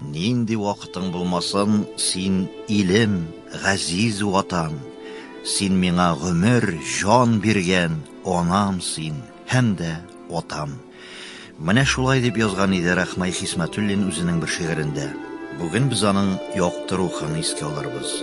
Нинди вакытың булмасын, син, илем, газиз ватан, Син миңа гомер, җан биргән анам син һәм дә атам. Менә шулай дип язган иде Рахмай Хисмәтуллин үзенең бер шигырендә. Бүген без аның якты рухын искә алырбыз.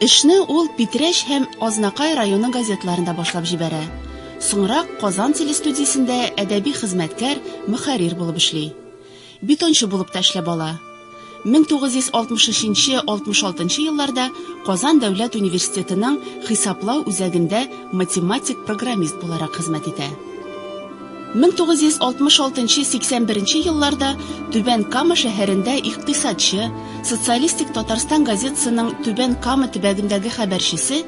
Эшне ул Питрәч һәм Азнакай районы газеталарында башлап җибәрә. Соңрак Казан телестудиясендә әдәби хезмәткәр, мөхәррир булып эшли. Бетончы булып та эшләп ала. 1963-66 елларда Казан дәүләт университетының хисаплау үзәгендә математик-программист буларак хезмәт итә. 1966 нчы 81 нче елларда Түбән Кама шәһәрендә икътисадчы, Социалистик Татарстан газетасының Түбән Кама төбәгендәге хәбәрчесе,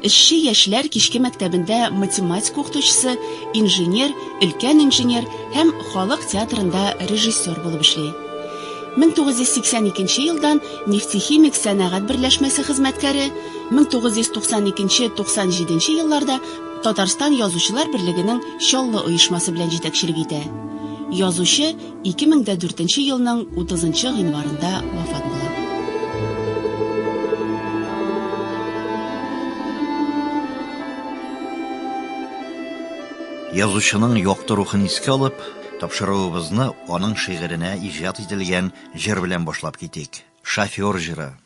эшче яшьләр кичке мәктәбендә математика укытучысы, инженер, өлкән инженер һәм халык театрында режиссер булып эшли. 1982 нче елдан Нефтехимик сәнәгать берләшмәсе хезмәткәре, 1992 нче 97 нче елларда Татарстан Язучылар берлегенең Чаллы оешмасы белән җитәкчелек итә. Язучы 2004 елның 30 гыйнварында вафат була. Язучының якты рухын искә алып, тапшыруыбызны аның шигыренә иҗат ителгән җыр белән башлап китик. Шофер җыры.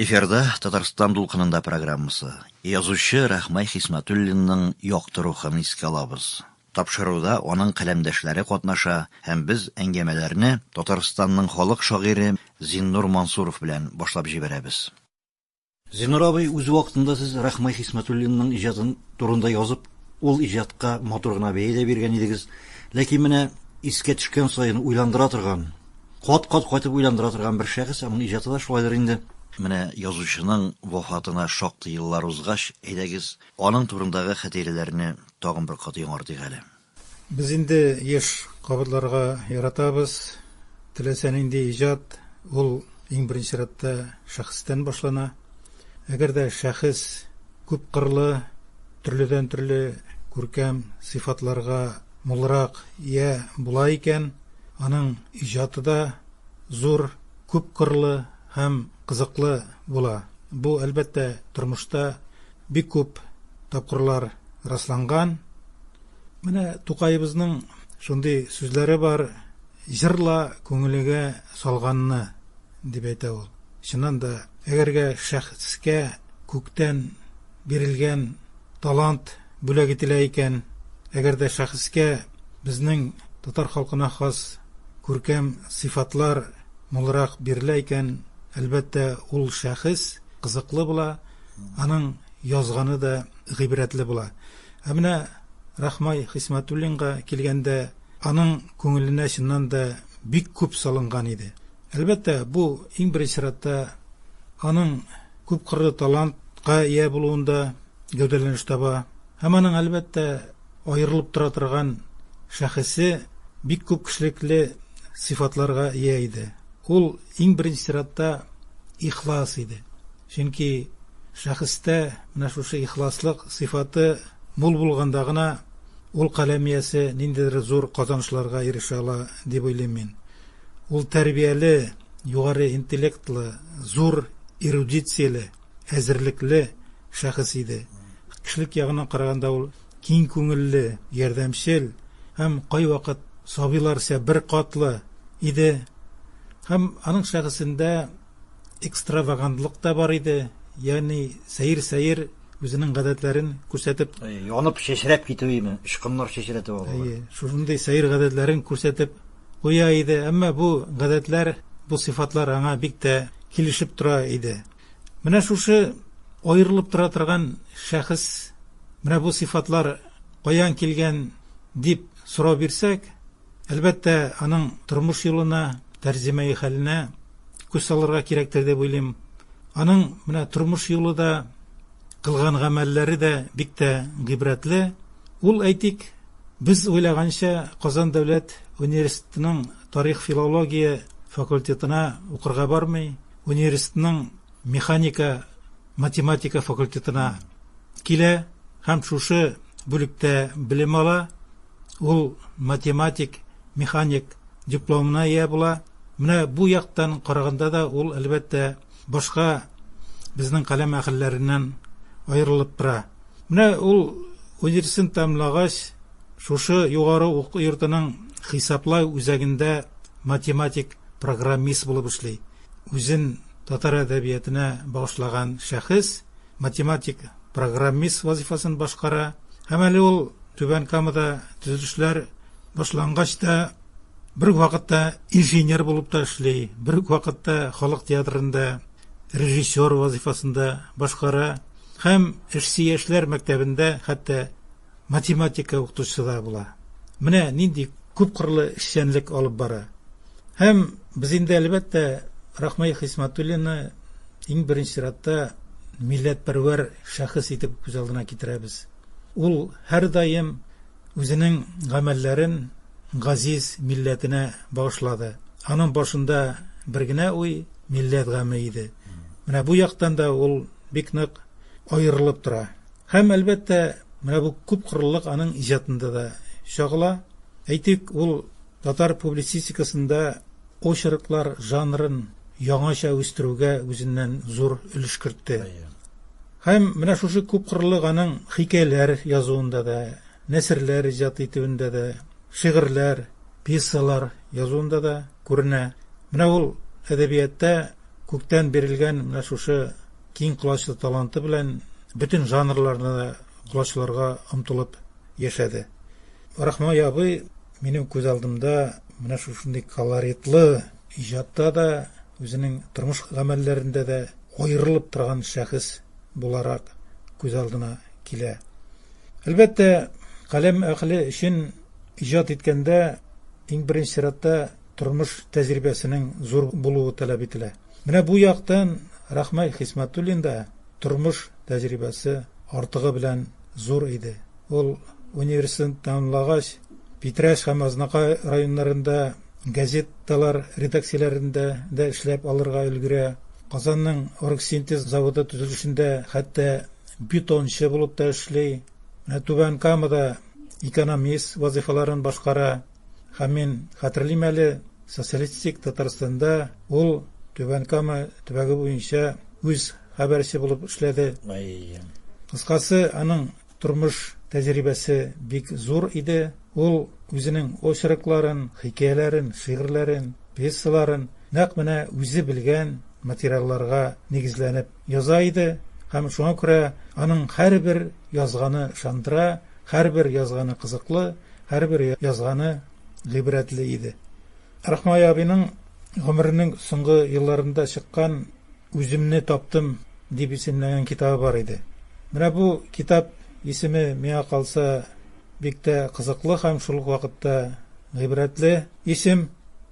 Эфирда Татарстан дулкынында программасы. Язучы Рахмай Хисматуллинның якты рухын искә алабыз. Тапшыруда аның каләмдәшләре катнаша һәм без әңгәмәләрне Татарстанның халык шагыйре Зиннур Мансуров белән башлап җибәрәбез. Зинур абый, үз вакытында сез Рахмай Хисмәтуллинның иҗаты турында язып, ул иҗатка матур гына бәя дә биргән идегез. Ләкин менә искә төшкән саен уйландыра торган, кат-кат кайтып уйландыра торган бер шәхес, аның иҗаты да шулайдыр инде. Менә язучының вафатына шактый еллар узгач, әйдәгез, аның турындагы хәтирәләрне тагын бер кат яңартыйк әле. Без инде еш кабатларга яратабыз, теләсә нинди иҗат, ул иң беренче чиратта шәхестән башлана. Әгәр дә шәхес күпкырлы, төрледән-төрле күркәм сыйфатларга мулрак ия була икән, аның иҗаты да зур, күпкырлы һәм кызыклы була. Бу, әлбәттә, тормышта бик күп тапкырлар расланган. Менә Тукаебызның шундый сүзләре бар, җырла күңелегә салганны, дип әйтә ул. Чыннан да, әгәргә шәхескә күктән бирелгән талант бүләк ителә икән, әгәр дә шәхескә безнең татар халкына хас күркәм сыйфатлар мулрак бирелә икән, әлбәттә, ул шәхес кызыклы була, аның язганы да гыйбрәтле була. Ә менә Рахмай Хисмәтуллинга килгәндә, аның күңеленә чыннан да бик күп салынган иде. Әлбәттә, бу, иң беренче чиратта, аның күпкырлы талантка ия булуында гәүдәләнеш таба. Һәм аның, әлбәттә, аерылып тора торган шәхесе бик күп кешелекле сыйфатларга ия иде. Ул, иң беренче чиратта, ихлас иде. Чөнки шәхестә менә шушы ихласлык сыйфаты мул булганда гына ул каләм иясе ниндидер зур казанышларга ирешә ала, дип уйлыйм мин. Ул тәрбияле, югары интеллектлы, зур эрудицияле, әзерлекле шәхес иде. Кешелек ягыннан караганда ул киң күңелле, ярдәмчел һәм кайвакыт сабыйларча беркатлы иде. Һәм аның шәхесендә. экстравагантлык та бар иде, ягъни сәер-сәер үзенең гадәтләрен күрсәтеп, Әйе, янып чәчрәп китү име, очкыннар чәчрәтеп алу. Әйе, шушындый сәер гадәтләрен күрсәтеп куя иде, әмма бу гадәтләр, бу сыйфатлар аңа бик тә килешеп тора иде. Менә шушы аерылып тора торган шәхес, менә бу сыйфатлар каян килгән дип сорау бирсәк, Әлбәттә, аның тормыш юлына, тәрҗемәи хәленә күз салырга кирәктер дип уйлыйм. Аның менә тормыш юлы да, кылган гамәлләре дә бик тә гыйбрәтле. Ул, әйтик, без уйлаганча Казан дәүләт университетының тарих-филология факультетына укырга бармый, университетның механика математика факультетына килә һәм шушы бүлектә белем ала. Ул математик, механик дипломына ия була. Менә бу яктан караганда да ул әлбәттә башка безнең каләм әһелләреннән аерылып тора. Менә ул университет тәмамлагач, шушы югары уку йортының хисаплау үзәгендә математик программист булып эшли. Үзен татар әдәбиятына багышлаган шәхес математик программист вазифасын башкара һәм әле ул Түбән Камада төзелешләр башлангач та бер үк вакытта инженер булып та эшли, бер үк вакытта халык театрында режиссер вазифасында башкара һәм эшси яшьләр мәктәбендә хәтта математика укытучысы да була. Менә нинди күпкырлы эшчәнлек алып бара. Һәм без инде әлбәттә Рахмай Хисматуллины иң беренче чиратта милләтпәрвәр шәхес итеп күз алдына китерәбез. Ул һәрдаим үзенең гамәлләрен газиз милләтенә багышлады. Аның башында бер генә уй милләт гаме иде. Менә бу яктан да ул бик нык аерылып тора. Һәм, әлбәттә, менә бу күпкырлылык аның иҗатында да чагыла. Әйтик, ул татар публицистикасында очерклар жанрын яңача үстерүгә үзеннән зур өлеш кертте. Һәм менә шушы күпкырлылык аның хикәяләр язуында да, нәсерләр иҗат итүендә дә, шигырьләр, пьесалар язуында да күренә. Менә ул әдәбиятта күктән бирелгән менә шушы Киң колачлы таланты белән бөтен жанрларны да колачларга омтылып яшәде. Рахмай абый минем күз алдымда менә шушындый колоритлы иҗатта да, үзенең тормыш гамәлләрендә дә аерылып торган шәхес буларак күз алдына килә. Әлбәттә, каләм әхле өчен иҗат иткәндә иң беренче чиратта тормыш тәҗрибәсенең зур булуы таләп ителә. Менә бу яктан Рахмай Хисмәтуллин да тормыш тәҗрибәсе артыгы белән зур иде. Ул университетны тәмамлагач, Питрәч һәм Азнакай районнарында газеталар редакцияләрендә дә эшләп алырга өлгерә. Казанның Оргсинтез заводы төзелешендә хәтта бетончы булып та эшли. Менә Түбән Камада экономист вазыйфаларын башкара. Һәм мин хәтерлим әле, социалистик Татарстанда ул Түбән Кама төбәге буенча үз хәбәрче булып эшләде. Кыскасы, аның тормыш тәҗрибәсе бик зур иде. Ул үзенең очеркларын, хикәяләрен, шигырьләрен, пьесаларын нәкъ менә үзе белгән материалларга нигезләнеп яза иде һәм шуңа күрә аның һәрбер язганы шандыра, һәрбер язганы кызыклы, һәрбер язганы гыйбрәтле иде. Рахмай абиның гомеренең соңгы елларында чыккан Үземне таптым дип исемләнгән китабы бар иде. Менә бу китап исеме миңа калса бик тә кызыклы һәм шул ук вакытта гыйбрәтле исем.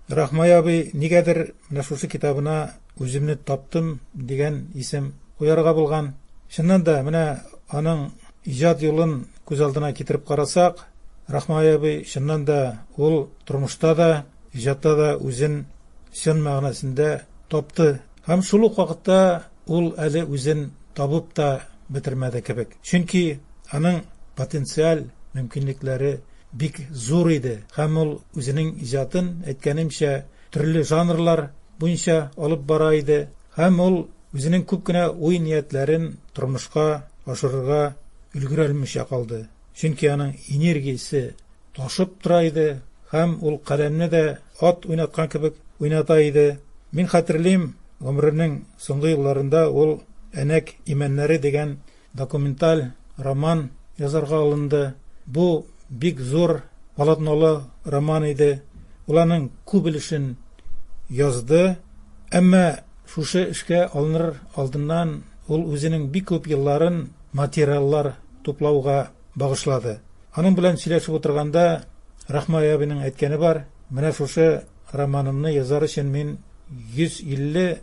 Рахмай абый нигәдер менә шушы китабына Үземне таптым дигән исем куярга булган. Чыннан да, менә аның иҗат юлын күз алдына китереп карасак, Рахмай абый чыннан да ул тормышта да, иҗатта да үзен чын мәгънәсендә тапты. Һәм шул ук вакытта ул әле үзен табып та бетермәде кебек. Чөнки аның потенциаль мөмкинлекләре бик зур иде һәм ул үзенең иҗатын, әйткәнемчә, төрле жанрлар буенча алып бара иде һәм ул үзенең күп кенә уй-ниятләрен тормышка ашырырга өлгерә алмыйча калды. Чөнки аның энергиясе ташып тора иде һәм ул каләмне дә ат уйнаткан кебек уйната иде. Мин хәтерлим, гомеренең соңгы елларында ул Әнәк имәннәре дигән Документаль роман язарга алынды. Бу бик зур полотнолы роман иде. Ул аның күп өлешен язды. Әмма шушы эшкә алыныр алдыннан ул үзенең бик күп елларын материаллар туплауга багышлады. Аның белән сөйләшеп утырганда Рахмай абиның әйткәне бар, менә шушы романымны язар өчен мин 150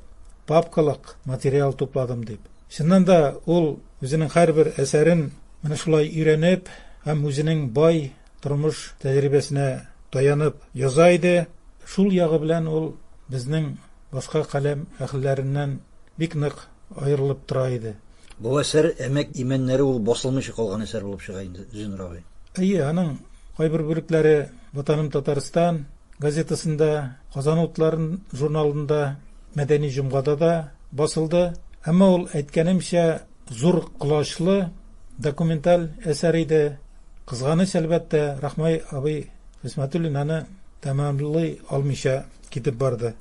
папкалык материал тупладым дип. Чыннан да, ул үзенең һәрбер әсәрен менә шулай өйрәнеп һәм үзенең бай тормыш тәҗрибәсенә таянып яза иде. Шул ягы белән ул безнең башка каләм әһелләреннән бик нык аерылып тора иде. Бу әсәр Әмәк имәннәре ул басылмыйча калган әсәр булып чыга инде, Зиннур абый. Әйе, аның кайбер бүлекләре Ватаным Татарстан газетасында, Казан утларын журналында, Мәдәни җомгада да басылды. Әмма ул, әйткәнемчә, зур колачлы документаль әсәр иде. Кызганыч, әлбәттә, Рахмай абый Хисмәтуллин аны тәмамлый алмыйча китеп барды.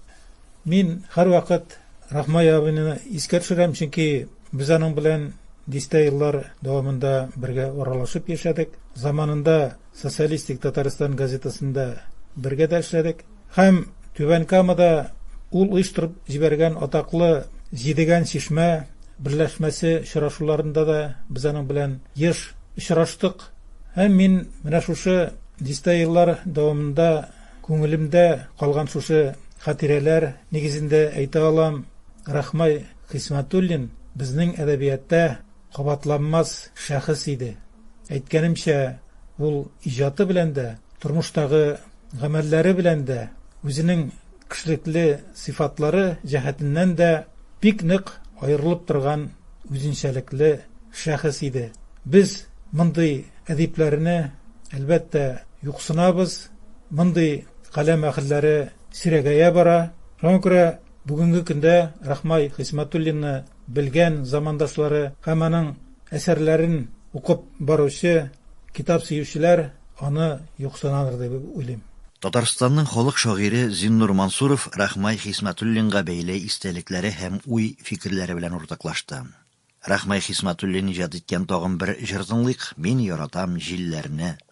Мин һәрвакыт Рахмай абыйны искә төшерәм, чөнки без аның белән дистә еллар дәвамында бергә аралашып яшәдек. Заманында Социалистик Татарстан газетасында бергә дә эшләдек. Һәм Түбән Камада ул оештырып җибәргән атаклы Җидегән чишмә берләшмәсе очрашуларында да без аның белән еш очраштык. Һәм мин менә шушы дистә еллар дәвамында күңелемдә калган шушы хатирәләр нигезендә әйтә алам, Рахмай Хисмәтуллин безнең әдәбиятта Кабатланмас шәхес иде. Әйткәнемчә, ул иҗаты белән дә, тормыштагы гамәлләре белән дә, үзенең кешелекле сыйфатлары җәһәтеннән дә бик нык аерылып торган үзенчәлекле шәхес иде. Без мондый әдипләрне, әлбәттә, юксынабыз, мондый каләм әһелләре сирәгәя бара. Шуңа күрә бүгенге көндә Рахмай Хисмәтуллинны Белгән замандашлары һәм аның әсәрләрен укып баручы китап сөючеләр аны юксынадыр дип уйлыйм. Татарстанның халык шагыйре Зиннур Мансуров Рахмай Хисмәтуллинга бәйле истәлекләре һәм уй-фикерләре белән уртаклашты. Рахмай Хисмәтуллин иҗат иткән тагын бер җыр тыңлыйк, Мин яратам җилләрне,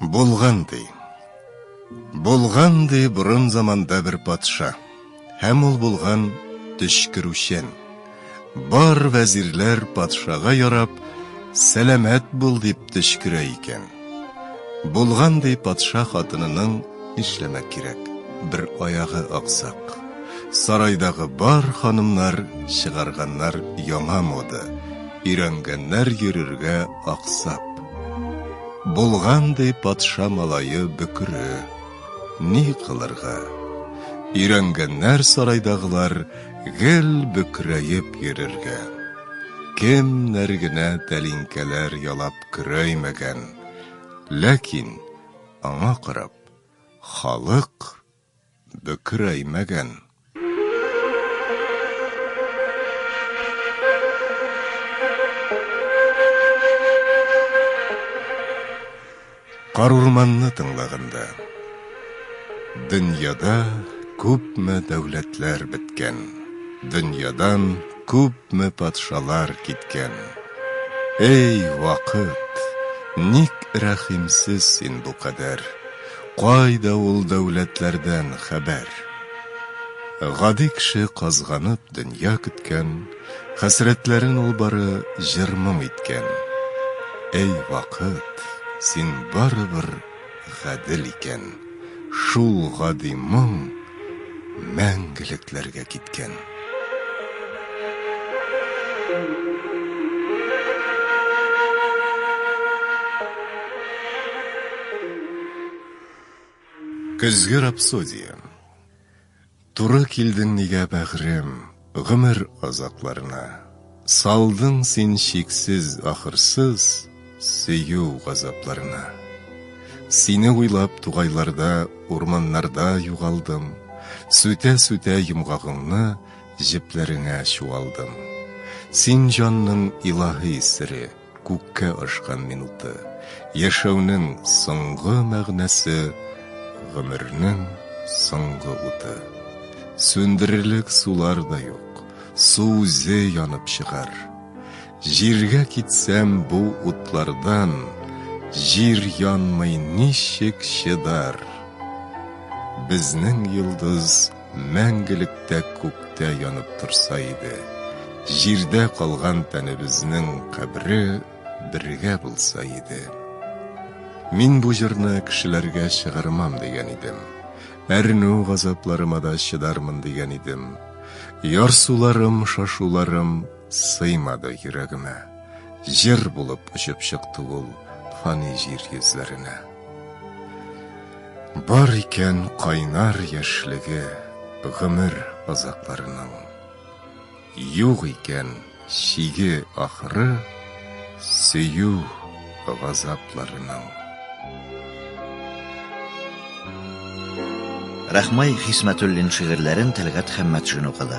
Булган ди. Булган ди борын заманда бер патша. Һәм ул булган төчкерүчән. Бар вәзирләр патшага ярап, сәламәт бул дип төчкерә икән. Булган ди патша хатынының нишләмәк кирәк? Бер аягы аксак. Сарайдагы бар ханымнар чыгарганнар яңа мода. Өйрәнгәннәр йөрергә аксап. Булган, ди, патша малае бөкре. Ни кылырга? Өйрәнгәннәр сарайдагылар гел бөкрәеп йөрергә. Кемнәр генә тәлинкәләр ялап көрәймәгән. Ләкин, аңа карап, халык Бөкерәймәгән. Карурманны тыңлаганда. Дөньяда күпме дәүләтләр беткән, Дөньядан күпме патшалар киткән. Эй, вакыт, ник рәхимсез син бу кадәр? Кайда ул дәүләтләрдән хәбәр? Гади кеше казганып дөнья көткән, Хәсрәтләрен ул бары җыр-моң иткән. Әй вакыт, син барыбер гадел икән, Шул гади моң. мәңгелекләргә киткән. Көзге рапсодия. Туры килдең мигә, бәгърем. Гомер азапларына. Салдың син чиксез, ахырсыз Сөю газапларына. Сине уйлап тугайларда, Урманнарда югалдым. Сүтә-сүтә йомгагыңны Җепләреңә чуалдым. Син җанның илаһи сере. Күккә ашкан минуты. Яшәүнең соңгы мәгънәсе, гомернең соңгы уты. Сүндерерлек сулар да юк, су үзе янып чыгар. Җиргә китсәм бу утлардан, җир янмый ничек чыдар? Безнең йолдыз. мәңгелектә күктә янып торса иде, җирдә калган тәнебезнең кабре бергә булса иде. Мин бу җырны кешеләргә чыгармам дигән идем. Әрнү газапларыма да чыдармын дигән идем. Ярсуларым, шашуларым сыймады йөрәгемә. Җыр булып очып чыкты ул фани җир йөзләренә. Бар икән кайнар яшьлеге гомер озакларының. Юк икән чиге ахыры сөю газапларының. Рәхмай Хисмәтуллин шигырьләрен Тәлгать Хәммәтшин укыды.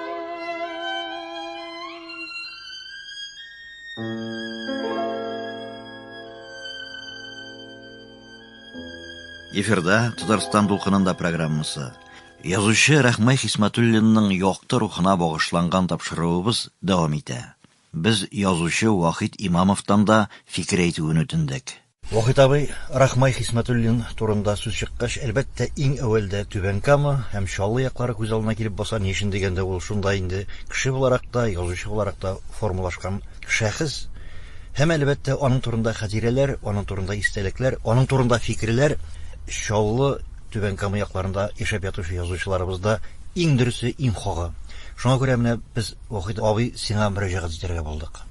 Эфирда Татарстан дулкынында программасы. Язучы Рәхмәй Хисмәтуллинның якты рухына багышланган тапшыруыбыз дәвам итә. Без язучы Вахит Имамовтан да фикер әйтүен үтендек. Вахит абый, Рахмай Хисмәтуллин турында сүз чыккач, әлбәттә, иң әүвәлдә Түбән Кама һәм Чаллы яклары күз алдына килеп баса, ни өчен дигәндә, ул шунда инде кеше буларак та, язучы буларак та формалашкан шәхес һәм, әлбәттә, аның турында хәтирәләр, аның турында истәлекләр, аның турында фикерләр Чаллы, Түбән Кама якларында яшәп ятучы язучыларыбызда иң дөресе, иң хагы. Шуңа күрә менә без, Вахит абый, сиңа мөрәҗәгать итәргә булдык.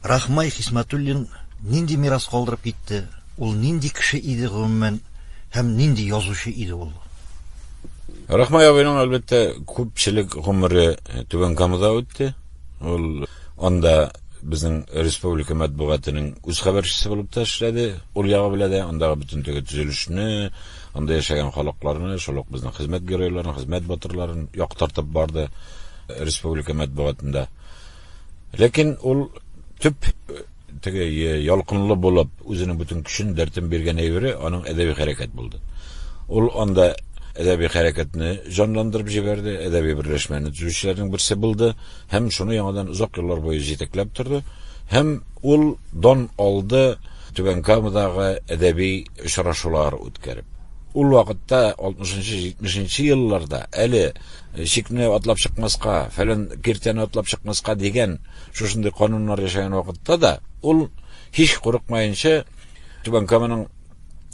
Рахмай Хисмәтуллин нинди мирас калдырып китте, ул нинди кеше иде гомумән һәм нинди язучы иде ул? Рахмай абыйның, әлбәттә, күпчелек гомере Түбән Камада үтте. Ул анда безнең республика матбугатының үз хәбәрчесе булып та эшләде. Ул ягы белән дә андагы бөтен теге төзелешне, анда яшәгән халыкларны, шул ук безнең хезмәт геройларын, хезмәт батырларын яктыртып барды республика матбугатында. Ләкин ул төп теге ялкынлы булып, үзенең бөтен көчен, дәртен биргән әйбере аның әдәби хәрәкәт булды. Ул анда әдәби хәрәкәтне җанландырып җибәрде, әдәби берләшмәне төзүчеләрнең берсе булды һәм шуны яңадан озак еллар буе җитәкләп торды. Һәм ул дан алды Түбән Камадагы әдәби очрашулар үткәреп. Ул вакытта 60-70 елларда әле чикне атлап чыкмаска, фәлән киртәне атлап чыкмаска дигән шушындый кануннар яшәгән вакытта да ул һич курыкмаенча Түбән Каманың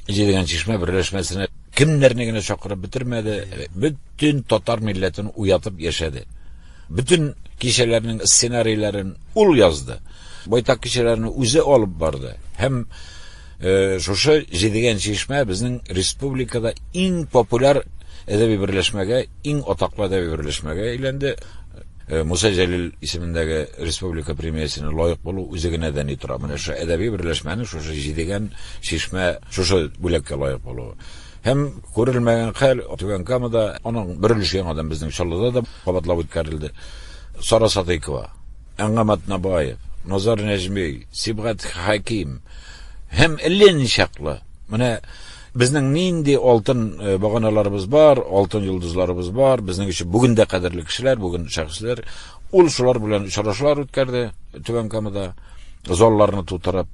җидегән чишмә берләшмәсенә кемнәрне генә чакырып бетермәде, бөтен татар милләтен уятып яшәде. Бөтен кичәләрнең сценарийларын ул язды. Байтак кичәләрне үзе алып барды һәм Шушы җидегән чишмә безнең республикада иң популяр әдәби берләшмәгә, иң атаклы әдәби берләшмәгә әйләнде. Э, Муса Җәлил исемендәге республика премиясенә лаек булу үзе генә дә ни тора. Менә шушы әдәби берләшмәне шушы җидегән чишмә шушы бүләккә лаек булу. Һәм күрелмәгән хәл Түбән Камада аның бер өлеше яңадан безнең Чаллыда да кабатлап үткәрелде. Сара Садыйкова Әнгам Атнабаев, Назар Нәҗми, Сибгат Хәким һәм әллә ничаклы. Менә безнең нинди алтын э, баганаларыбыз бар, алтын йолдызларыбыз бар, безнең өчен бүген дә кадерле кешеләр, бүген шәхесләр. Ул шулар белән очрашулар үткәрде Түбән Камада, залларны тутырып,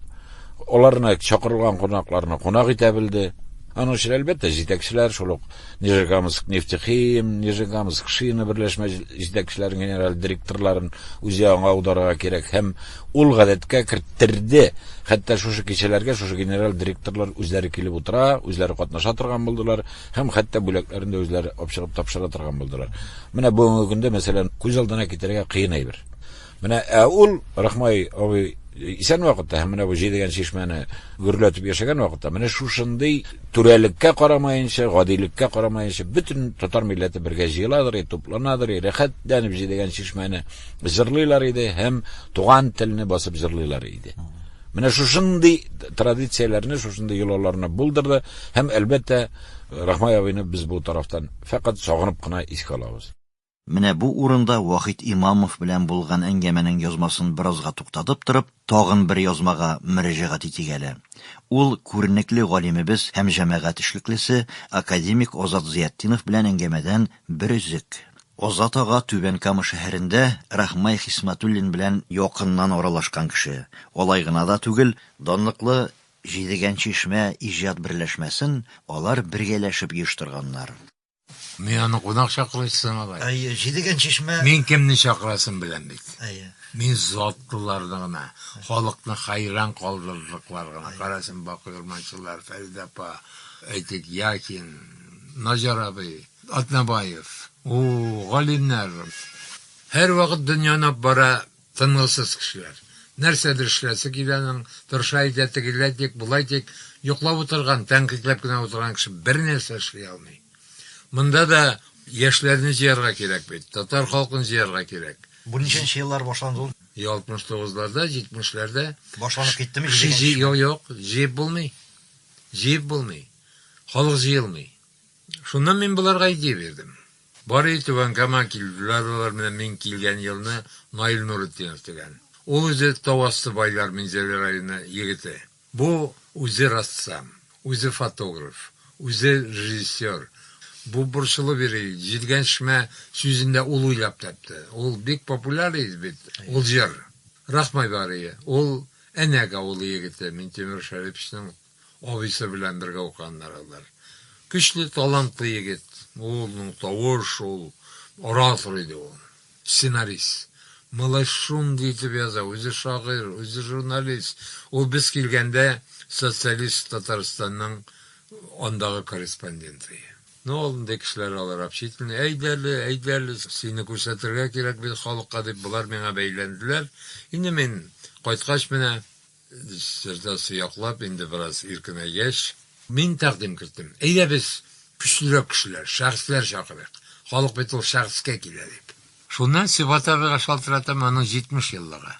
аларны чакырылган кунакларны кунак итә белде. Аның өчен, әлбәттә, җитәкчеләр, шул ук Нижегамскнефтехим, Нижегамскшина берләшмә җитәкчеләрен, генераль директорларын үзе аңа аударырга кирәк һәм ул гадәткә керттерде. Хәтта шушы кичәләргә шушы генераль директорлар үзләре килеп утыра, үзләре катнаша торган булдылар һәм хәтта бүләкләрен дә үзләре апчыгып тапшыра торган булдылар. Менә бүгенге көндә, мәсәлән, күз алдына китерергә кыен әйбер. Менә ә ул Рахмай абый исән вакытта һәм менә бу җидегән чишмәне гөрләтеп яшәгән вакытта менә шушындый түрәлеккә карамаенча, гадилеккә карамаенча бөтен татар милләте бергә җыеладыр и тупланадыр и рәхәтләнеп җидегән чишмәне җырлыйлар иде һәм туган телне басып җырлыйлар иде. Менә шушындый традицияләрне, шушындый йолаларны булдырды һәм әлбәттә Рахмай абыйны без бу тарафтан фәкать сагынып кына искә алабыз. Менә бу урында Вахит Имамов белән булган әңгәмәнең язмасын беразга туктатып торып, тагын бер язмага мөрәҗәгать итик әле. Ул күренекле галимебез һәм җәмәгать эшлеклесе, академик Азат Зыятдинов белән әңгәмәдән бер өзек. Азат ага Түбән Кама шәһәрендә Рахмай Хисмәтуллин белән якыннан аралашкан кеше. Алай гына да түгел, данлыклы Җидегән чишмә иҗат берләшмәсен алар бергәләшеп оештырганнар. Мин аны кунак чакырыш сымалай. Әйе, җидеген чишмә. Мин кемне чакырасын беләм бит. Әйе. Мин затлыларны гына, халыкны хайран калдырырлыклар гына. Карасын Бакый Урманчылар, Фәридә апа, әйтик, Яхин, Наҗар абый, Атнабаев. У, галимнәр. Һәрвакыт дөньяны бара Тынгысыз кешеләр. Нәрсәдер эшләсе килә аның, тырыша әйтә, тегеләй тик, болай тик. Йоклап утырган, тәнкыйтьләп кенә утырган кеше бернәрсә эшли алмый. Монда да яшьләрне җыярга кирәк бит, татар халкын җыярга кирәк. Бу ничәнче еллар башланды ул? Йә алтмыш тугызларда, җитмешләрдә. Башланып киттеме, җидегенче ел? Юк, юк, җыеп булмый. Җыеп булмый. Халык җыелмый. Шуннан мин боларга идея бирдем. Барыи Түбән Кама килделәр алар, менә мин килгән елны Наил Нуретдинов дигән. Ул үзе тау асты байлар Минзәлә районы егете. Бу үзе рассам, үзе фотограф, үзе режиссер. Бу борчылып йөри, Җилгәншмә сүзен дә ул уйлап тапты. Ул бик популяр иде бит ул җыр. Рахмай Барыи, ул Әнәк авылы егете, Минтимер Шәриповичның Абыйсы белән бергә укыганнар алар. Көчле, талантлы егет. Ул, ну, тавыш ул, оратор иде ул. Сценарист. Малай шундый итеп яза, үзе шагыйрь, үзе журналист. Ул без килгәндә Социалист Татарстанның андагы корреспонденты. Ну, алдында кешеләр алар общительный, әйдә әле, әйдә әле, сине күрсәтергә кирәк бит халыкка, дип, болар миңа бәйләнделәр. Инде мин кайткач менә. Диссертация яклап инде бераз иркенәйгәч. Мин тәкъдим керттем, әйдә без көчлерәк кешеләр, шәхесләр чакырыйк, халык бит ул шәхескә килә, дип. Шуннан Сибгат абыйга шалтыратам, аның 70 еллыгы.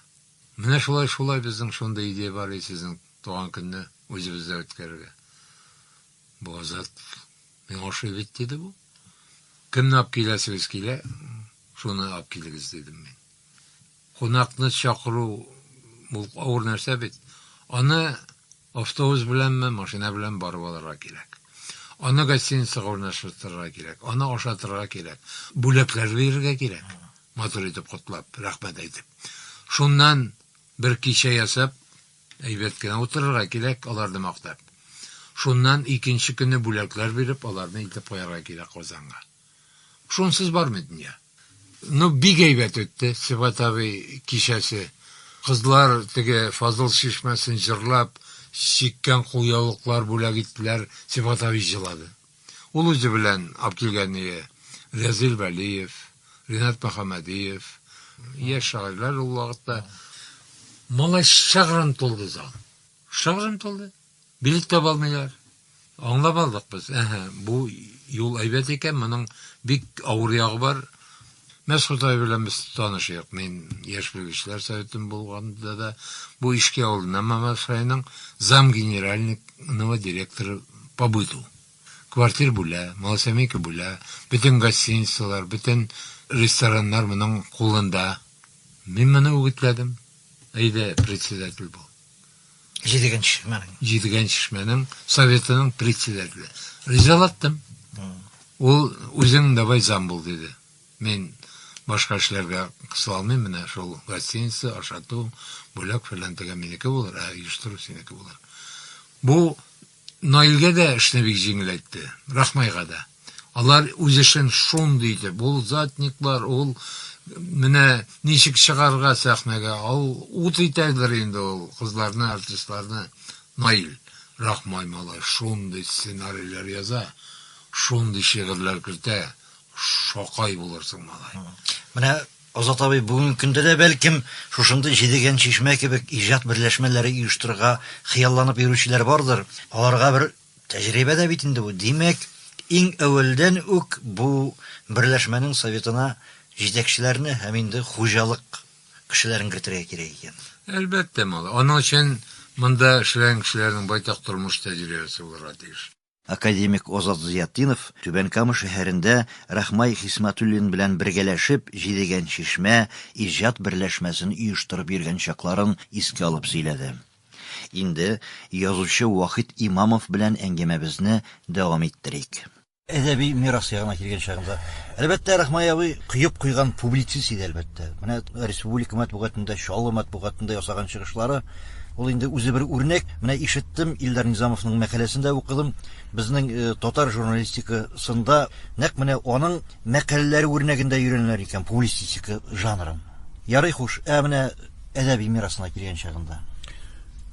Менә шулай, шулай, безнең шундый идея бар иде, сезнең туган көнне үзебездә үткәрергә. Бу Азат миңа ошый бит, диде бу. Кемне алып киләсегез килә, шуны алып килегез, дидем мин. Кунакны чакыру бу авыр нәрсә бит. Аны автобус беләнме, машина белән барып алырга кирәк. Аны гостиницага урнаштырырга кирәк, аны ашатырга кирәк, бүләкләр бирергә кирәк, матур итеп котлап, рәхмәт әйтеп. Шуннан бер кичә ясап, әйбәт кенә утырырга кирәк, аларны мактап. Шуннан икенче көнне бүләкләр биреп, аларны илтеп куярга кирәк Казанга. Шунсыз бармый дөнья. Ну бик әйбәт үтте Сибгат абый кичәсе. Кызлар теге Фазыл чишмәсен җырлап, чиккән кулъяулыклар бүләк иттеләр, Сибгат абый җылады. Ул үзе белән алып килгәние Рәзыйль Вәлиев, Ринат Мөхәммәдиев, яшь шагыйрьләр ул вакытта. Малай шыгрым тулды зал. Шыгрым тулды. Билет таба алмыйлар. Аңлап алдык без, әһә, бу юл әйбәт икән, моның бик авыр ягы бар. Мәс Ходай белән без таныш идек. Мин яшь белгечләр советын булганда да бу Ишки авылыннан Мамадыш районының зам генеральныйного директора по быту. Квартир бүлә, малосемейка бүлә, бөтен гостиницалар, бөтен рестораннар моның кулында. Мин моны үгетләдем, әйдә, председатель бул. Җидегенче шишмәнең. Җидегенче шишмәнең советының председателе. Ризалаттым. Ул үзең давай зам бул диде. Мин башка эшләргә кысыла алмыйм, менә шул гостиница, ашату, бүләк фәлән тегә минеке булыр, ә оештыру синеке булыр. Бу Наилгә дә эшне бик җиңеләйтте, Рахмайга да. Алар үз эшен шундый итеп, ул затникблар, ул менә ничек чыгарырга сәхнәгә, ул ут итәрдер инде ул кызларны, артистларны. Наил, Рахмай малай шундый сценарийлар яза, шундый шигырьләр кертә, шакай булырсың, малай. Менә Азат абый бүгенге көндә дә, бәлкем, шушындый Җидегән чишмә кебек иҗат берләшмәләре оештырырга хыялланып йөрүчеләр бардыр. Аларга бер тәҗрибә дә бит инде бу. Димәк, иң әүвәлдән үк бу берләшмәнең советына җитәкчеләрне һәм инде хуҗалык кешеләрен кертергә кирәк икән. Әлбәттә, малай. Аның өчен монда эшләгән кешеләрнең байтак тормыш тәҗрибәсе булырга тиеш. Академик Азат Зыятдинов Түбән Кама шәһәрендә Рахмай Хисмәтуллин белән бергәләшеп Җидегән чишмә иҗат берләшмәсен оештырып йөргән чакларын искә алып сөйләде. Инде язучы Вахит Имамов белән әңгәмәбезне дәвам иттерик. Әдәби мирас ягына килгән чагында, әлбәттә, Рахмай абый коеп куйган публицист иде, әлбәттә. Менә республика матбугатында, Чаллы матбугатында ясаган чыгышлары Ул инде үзе бер үрнәк. Менә ишеттем, Илдар Низамовның мәкаләсен дә укыдым. Безнең э, татар журналистикасында нәкъ менә аның мәкаләләре үрнәгендә өйрәнеләр икән публистистика жанрын. Ярый хуш, ә менә әдәби мирасына килгән чагында.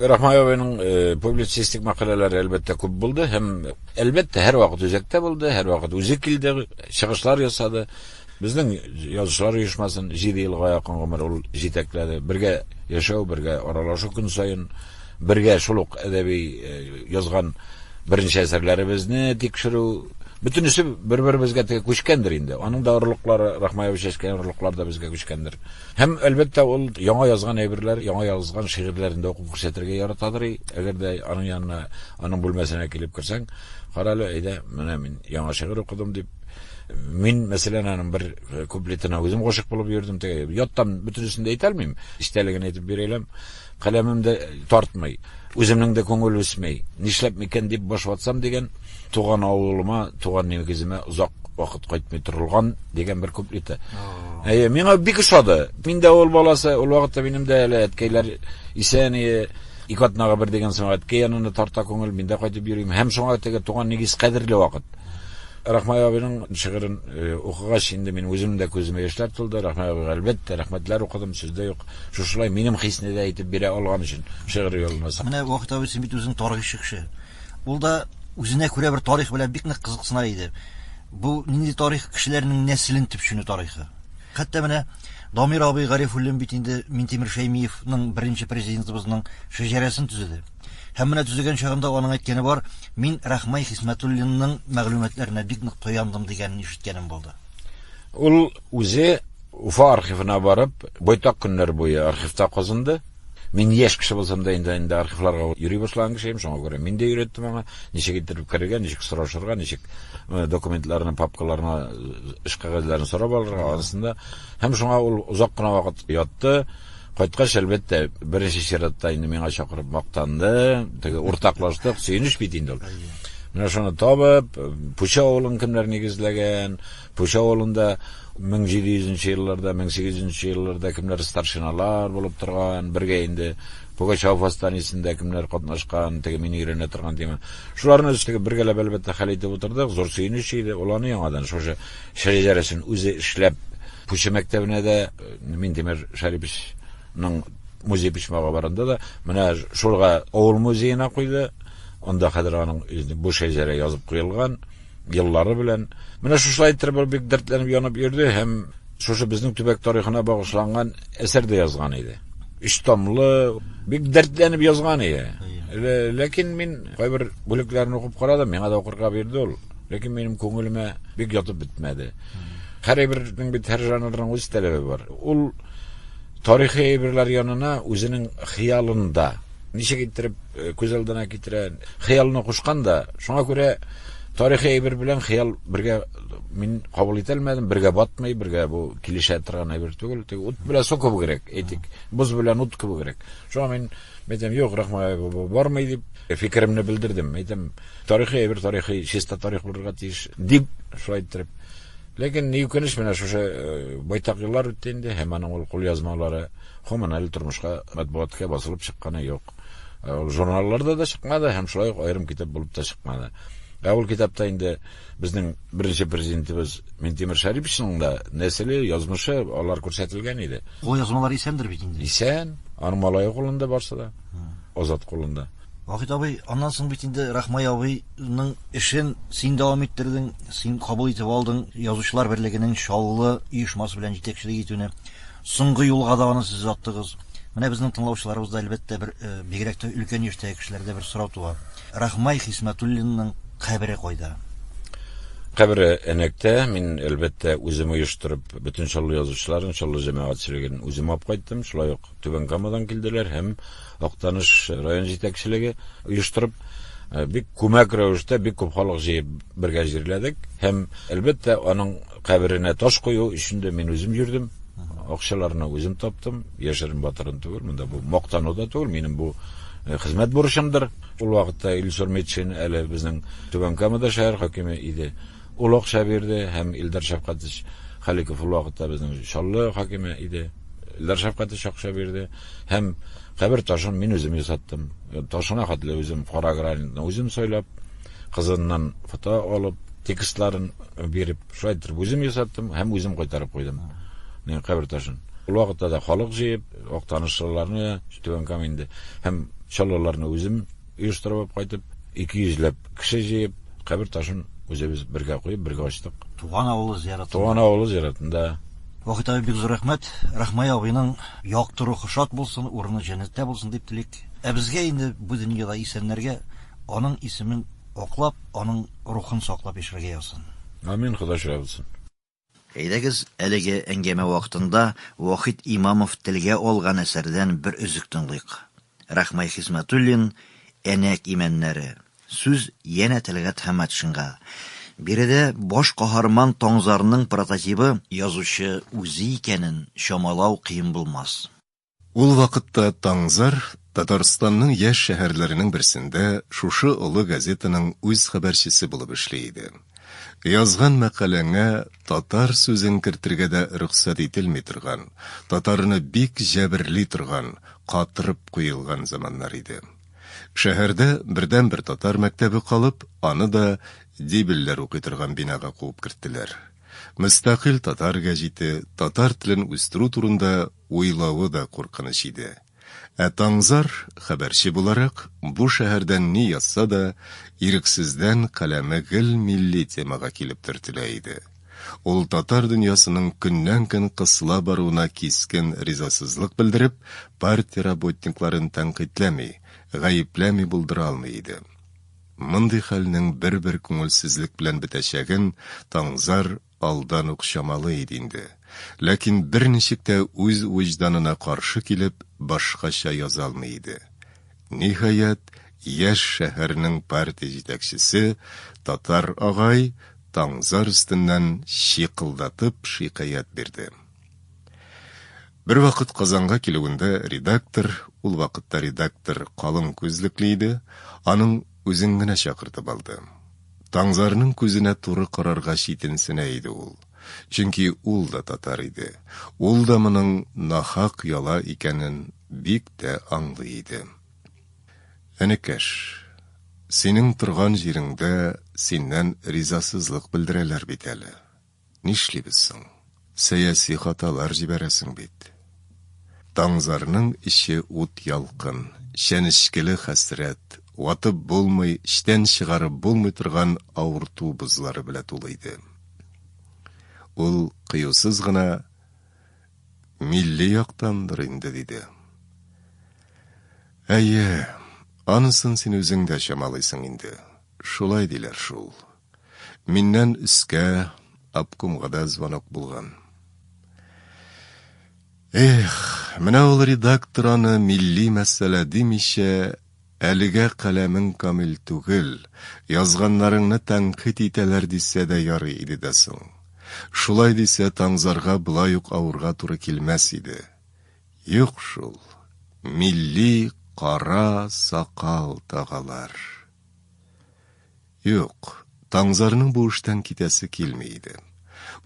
Рахмаевның э, публицистик мәкаләләре әлбәттә күп булды һәм әлбәттә һәрвакыт үзәктә булды, һәрвакыт үзе килде, чыгышлар ясады. Безнең Язучылар оешмасын җиде елга якын гомер ул җитәкләде. Бергә яшәү, бергә аралашу көн саен, бергә шул ук әдәби э, язган беренче әсәрләребезне тикшерү, бөтенесе бер-беребезгә теге күчкәндер инде. Аның да орлыклары, Рахмаевич чәчкән орлыклар да безгә күчкәндер. Һәм, әлбәттә, ул яңа язган әйберләр, яңа язган шигырьләрен дә укып күрсәтергә яратадыр. Әгәр дә аның янына, аның бүлмәсенә килеп керсәң, карале, әйдә, менә мин яңа шигырь укыдым дип, Мин, мәсәлән, аның бер э, куплетына үзем гашык булып йөрдем. Теге яттан бөтенесен дә әйтә алмыйм. Истәлеген әйтеп бирәләм. Каләмем дә э, тартмый. Үземнең дә күңел үсмәй. Нишләп микән дип баш ватсам дигән туган авылыма, туган нигеземә озак вакыт кайтмый торылган дигән бер куплеты. Әйе, миңа бик ошады. Мин дә авыл баласы, ул вакытта минем дә әле әткәйләр исән иде. Ике атнага бер дигән соң әткәй янына тарта күңел, мин дә кайтып йөрим. Һәм шуңа теге туган нигез кадерле вакыт. Рахмай абыйның шигырен укыгач, инде мин үземнең дә күземә яшьләр тулды. Рахмай абыйга, әлбәттә, рәхмәтләр укыдым, сүз дә юк. Шушылай минем хисне дә әйтеп бирә алган өчен шигырь юлына сак. Менә Вахит абый син бит үзең тарихчы кеше. Ул да үзенә күрә бер тарих белән бик нык кызыксына иде. Бу нинди тарих, кешеләрнең нәселен төпченү тарихы. Хәтта менә Дамир абый Гарифуллин бит инде Минтимер Шәймиевның, беренче президентыбызның шәҗәрәсен төзеде. Һәм менә төзегән чагында аның әйткәне бар, мин Рахмай Хисмәтуллинның мәгълүматларына бик нык тояндым дигәнен ишеткәнем булды. Ул үзе Уфа архивына барып, байтак көннәр буе архивта казынды. Мин яшь кеше булсам да инде инде архивларга йөри башлаган кеше идем, шуңа күрә мин дә өйрәттем аңа, ничек итеп керергә, ничек сорашырга, ничек э, документларны, папкаларны, э, эш кәгазьләрен сорап алырга, анысында. Һәм шуңа ул озак кына вакыт ятты. Кайткач, әлбәттә, беренче чиратта инде миңа чакырып мактанды, теге уртаклаштык, сөенеч бит инде ул. Менә шуны табып, Пуча авылын кемнәр нигезләгән, Пуча авылында 1700 елларда, 1800 елларда кемнәр старшиналар булып торган, бергә инде Пугачев восстаниесендә кемнәр катнашкан, теге мин өйрәнә торган тема. Шуларны өстәгә бергәләп әлбәттә хәл итеп утырдык, зур сөенеч иде, ул аны яңадан шушы Шәҗәрәсен үзе эшләп, Пучы мәктәбенә дә Минтимер Шәриповичның музей почмагы барында да менә шулга авыл музеена куйды. Анда хәзер аның бу шәҗәрә язып куелган еллары белән. Менә шушылай иттереп ул бик дәртләнеп янып йөрде һәм шушы безнең төбәк тарихына багышланган әсәр дә язган иде. Өч томлы, бик дәртләнеп язган иде. Ләкин мин кайбер бүлекләрен укып карадым, миңа да укырга бирде ул. Ләкин минем күңелемә бик ятып бетмәде. Һәр әйбернең бит һәр жанрның үз таләбе бар. Ул тарихи әйберләр янына үзенең хыялында ничек иттереп э, күз алдына китерә, хыялына кушкан да. Шуңа күрә тарихи әйбер белән хыял бергә мин кабул итә алмадым, бергә батмый, бергә бу килешә торган әйбер түгел. Тик ут белән су кебегрәк, әйтик, боз белән ут кебегрәк. Шуңа мин әйтәм, юк, рахмай бармый дип фикеремне белдердем. Әйтәм, Тарихи әйбер тарихи, чиста тарих булырга тиеш, дип шулай иттереп. Ләкин ни үкенеч, менә шушы э, байтак еллар үтте инде, һәм аның ул кулъязмалары гомумән әле тормышка матбугатка басылып чыкканы юк. Э, ул журналларда да чыкмады һәм шулай ук аерым китап булып та чыкмады. Ә ул китапта инде безнең беренче президентыбыз Минтимер Шәрипшның да нәселе, язмышы алар күрсәтелгән иде. Кулъязмалар исәндер бит инде. Исән, аның малае кулында барса да, азат кулында. Вахит абый, аннан соң бит инде Рахмай абыйның эшен син дәвам иттердең, син кабул итеп алдың язучылар берлегенең Чаллы оешмасы белән җитәкчелек итүне. Соңгы юлга да аны сез аттыгыз. Менә безнең тыңлаучыларыбыз да әлбәттә бер э, бигрәк тә өлкән яшьтәге кешеләрдә бер сорау туа. Рахмай Хисмәтуллинның кабере кайда? Кабере Энәктә, мин әлбәттә үзем оештырып, бөтен Чаллы язучыларын, Чаллы җәмәгатьчелеген үзем алып кайттым. Шулай ук Түбән Камадан килделәр һәм Актаныш район җитәкчелеге оештырып, бик күмәк рәвештә бик күп халык җыеп бергә җирләдек. Һәм, әлбәттә, аның каберенә таш кую өчен дә мин үзем йөрдем. Акчаларны үзем таптым, яшерен батырын түгел, монда бу мактану да түгел, минем бу Э, хезмәт бурычымдыр. Ул вакытта Илсур Метшин әле безнең Түбән Камада шәһәр хакиме иде. Ул акча бирде һәм Илдар Шәфкатович Халиков ул вакытта безнең Чаллы хакиме иде. Илдар Шәфкатович акча бирде һәм кабер ташын мин үзем ясаттым. Ташына хәтле үзем кара гранитны үзем сайлап, кызыннан фото алып, текстларын биреп, шулай итеп үзем ясаттым һәм үзем кайтарып куйдым. Мин кабер ташын. Ул вакытта да халык җыеп, актанышлыларны, Түбән Каменде һәм чаллыларны үзем оештырып кайтып, ике йөзләп кеше җыеп, кабер ташын үзебез бергә куеп, бергә ачтык. Туган авылы зиярәтендә. Туган авылы зиярәтендә. Вахит абый, бик зур рәхмәт. Рахмай абыйның якты рухы шат булсын, урыны җәннәттә булсын дип телик. Ә безгә инде бу дөньяда исәннәргә аның исемен аклап, аның рухын саклап яшәргә язсын. Амин, Ходай шаһит булсын. Әйдәгез, әлеге әңгәмә вакытында Вахит Имамов телгә алган әсәрдән бер өзек тыңлыйк. Рахмай Хисмәтуллин Әнәк имәннәре. Сүз янә Тәлгать Хәмәтшинга. Биредә баш каһарман Таңзарның прототибы язучы үзе икәнен чамалау кыен булмас. Ул вакытта Таңзар Татарстанның яшь шәһәрләренең берсендә шушы олы газетаның үз хәбәрчесе булып эшли иде. Язган мәкаләңә татар сүзен кертергә дә рөхсәт ителми торган, татарны бик җәберли торган, катырып куелган заманнар иде. Шәһәрдә бердәнбер татар мәктәбе калып, аны да дибелләр укый торган бинага куып керттеләр. Мөстәкыйль татар гәҗите, татар телен үстерү турында уйлавы да куркыныч иде. Ә Таңзар, хәбәрче буларак, бу шәһәрдән ни язса да, ирексездән каләме гел милли темага килеп төртелә иде. Ул татар дөньясының көннән-көн кысыла баруына кискен ризасызлык белдереп, партия работникларын тәнкыйтьләми, гаепләми булдыра алмый иде. Мондый хәлнең бер-бер күңелсезлек белән бетәчәген Таңзар алдан ук чамалый иде инде, ләкин берничек тә үз вөҗданына каршы килеп, башкача яза алмый иде. Ниһаять, яшь шәһәрнең партия җитәкчесе, татар агай, Таңзар өстеннән чикылдатып шикаять бирде. Бервакыт Казанга килүендә редактор, ул вакытта редактор калын күзлекле иде, аның Үзен генә чакыртып алды. Таңзарның күзенә туры карарга читенсенә иде ул. Чөнки ул да татар иде. Ул да моның нахак яла икәнен бик тә аңлый иде. Энекәш, синең торган җиреңдә синнән ризасызлык белдерәләр бит әле. Нишлибез соң? Сәяси хаталар җибәрәсең бит. Таңзарның эче ут ялкын, чәнечкеле хәсрәт, ватып булмый, эчтән чыгарып булмый торган авырту бозлары белә тулы иде. Ул кыюсыз гына милли яктандыр инде диде. Әйе, анысын син үзең дә чамалыйсың инде. Шулай диләр шул. Миннән өскә обкомга да звонок булган. Эх, менә ул редактор аны милли мәсьәлә димичә, әлегә каләмең камил түгел, язганнарыңны тәнкыйть итәләр дисә дә ярый иде дә соң. Шулай дисә, Таңзарга болай ук авырга туры килмәс иде. Юк шул, милли кара сакал тагалар. Юк, Таңзарның бу эштән китәсе килми иде.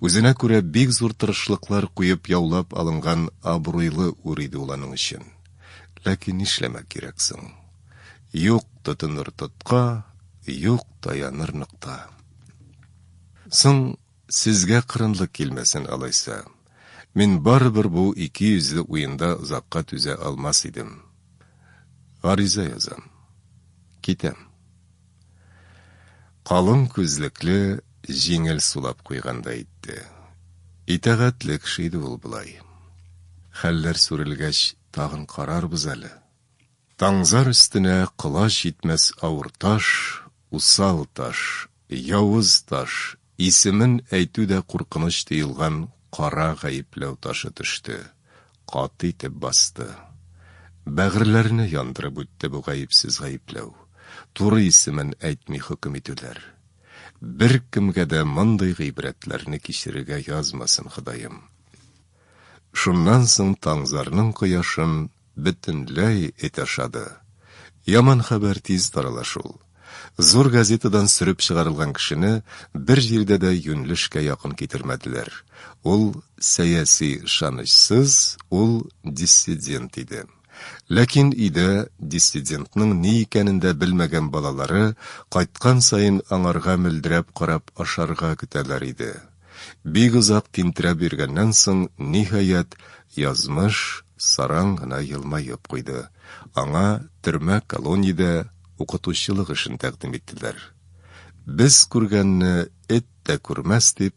Үзенә күрә бик зур тырышлыклар куеп яулап алынган абруйлы үр иде ул аның өчен. Ләкин нишләмәк кирәк соң? Юк тотыныр тотка, юк таяныр нокта. Соң, сезгә кырынлык килмәсен, алайса, Мин барыбер бу икейөзле уенда озакка түзә алмас идем. Гариза язам. Китәм. Калын күзлекле, җиңел сулап куйгандай итте. Итагатьле кеше иде ул болай. Хәлләр сүрелгәч, тагын карарбыз әле. Таңзар өстенә колач җитмәс авыр таш, усал таш, явыз таш, исемен әйтү дә куркыныч тоелган кара гаепләү ташы төште, каты итеп басты. Бәгырьләрне яндырып үтте бу гаепсез гаепләү, туры исемен әйтми хөкем итүләр. Беркемгә дә мондый гыйбрәтләрне кичерергә язмасын Ходаем. Шуннан соң Таңзарның кояшын бөтенләй эт ашады. Яман хәбәр тиз тарала шул. Зур газетадан сөреп чыгарылган кешене бер җирдә дә юньлешкә якын китермәделәр. Ул сәяси ышанычсыз, ул диссидент иде. Ләкин өйдә диссидентның ни икәнен дә белмәгән балалары кайткан саен аңарга мөлдерәп карап ашарга көтәләр иде. Бик озак тинтерәп йөргәннән соң, ниһаять, Язмыш саран гына елмаеп куйды, аңа төрмә колониядә укытучылык эшен тәкъдим иттеләр. Без күргәнне эт тә күрмәс, дип,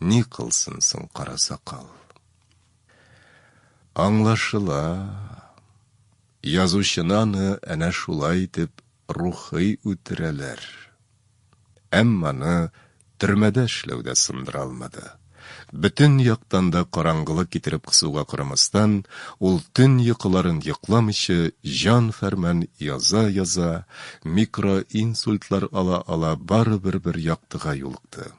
Ни кылсын соң кара сакал? Аңлашыла, язучыны аны әнә шулай итеп рухый үтерәләр. Әмма аны төрмәдә эшләү дә сындыра алмады. Бөтен яктан да караңгылык китереп кысуга карамастан, ул төн йокыларын йокламыйча җан-фәрман яза-яза, микроинсультлар ала-ала барыбер бер яктыга юлыкты.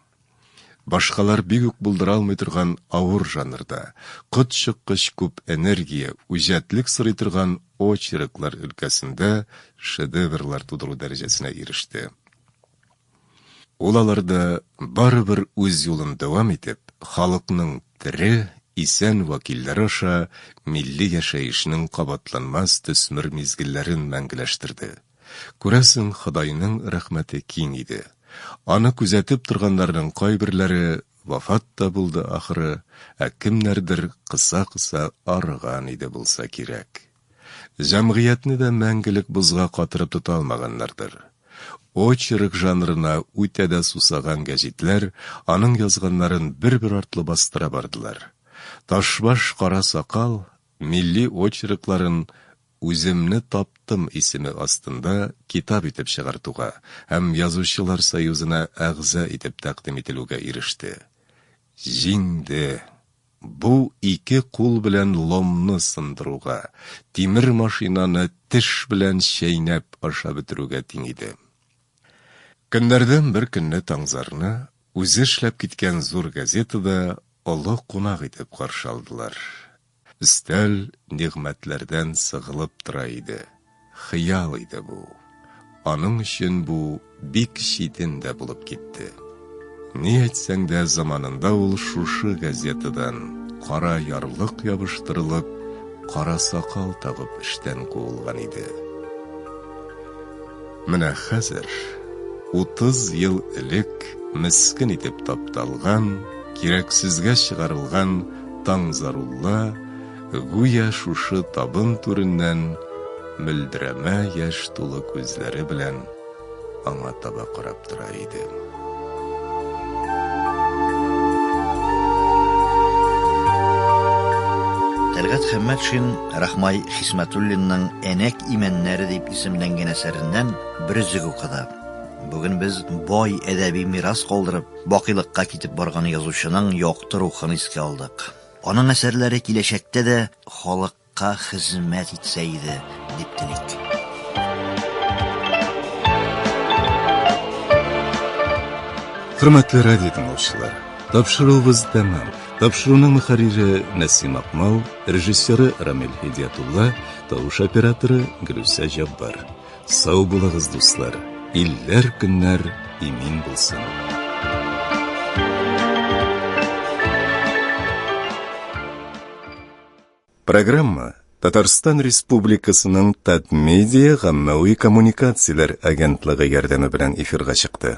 Башкалар бик үк булдыра алмый торган авыр жанрда, котчыккыч күп энергия, үҗәтлек сорый торган очерклар өлкәсендә шедеврлар тудыру дәрәҗәсенә иреште. Ул аларда барыбер үз юлын дәвам итеп, халыкның тере, исән вәкилләре аша милли яшәешнең кабатланмас төсмер мизгелләрен мәңгеләштерде. Күрәсең, Ходайның рәхмәте киң иде. Аны күзәтеп торганнарның кайберләре вафат та булды ахры, ә кемнәрдер кыса-кыса арыган иде булса кирәк. Җәмгыятьне дә мәңгелек бозга катырып тота алмаганнардыр. Очерк жанрына үтә дә сусаган гәҗитләр аның язганнарын бер-бер артлы бастыра бардылар. Ташбаш кара сакал милли очеркларын Үземне таптым исеме астында китап итеп чыгартуга һәм Язучылар союзына әгъза итеп тәкъдим ителүгә иреште. Җиңде! Бу ике кул белән ломны сындыруга, тимер машинаны теш белән чәйнәп ашап бетерүгә тиң иде. Көннәрдән бер көнне Таңзарны үзе эшләп киткән зур газетада олы кунак итеп каршы алдылар. Өстәл нигъмәтләрдән сыгылып тора иде. Хыял иде бу. Аның өчен бу бик читен дә булып китте. Ни әйтсәң дә, заманында ул шушы газетадан, кара ярлык ябыштырылып, кара сакал тагып эштән куылган иде. Менә хәзер, 30 ел элек мескен итеп тапталган, кирәксезгә чыгарылган Таңзарулла гүя шушы табын түреннән мөлдерәмә яшь тулы күзләре белән аңа таба карап тора иде. Тәлгать Хәммәтшин Рахмай Хисмәтуллинның Әнәк имәннәре дип исемләнгән әсәреннән бер өзек укыды. Бүген без бай әдәби мирас калдырып, бакыйлыкка китеп барган язучының якты рухын искә алдык. Аның әсәрләре киләчәктә дә халык Ка хезмәт итсә иде, дип телик. Хөрмәтле радио тыңлаучылар, тапшыруыбыз тәмам. Тапшыруның мөхәррире Нәсим Акмал, режиссеры Рамил Һидиятулла, тавыш операторы Гөлүсә Җаббар. Сау булыгыз, дуслар. Илләр көннәр имин булсын. Программа Татарстан Республикасының Татмедиа гаммәви коммуникацияләр агентлыгы ярдәме белән эфирга чыкты.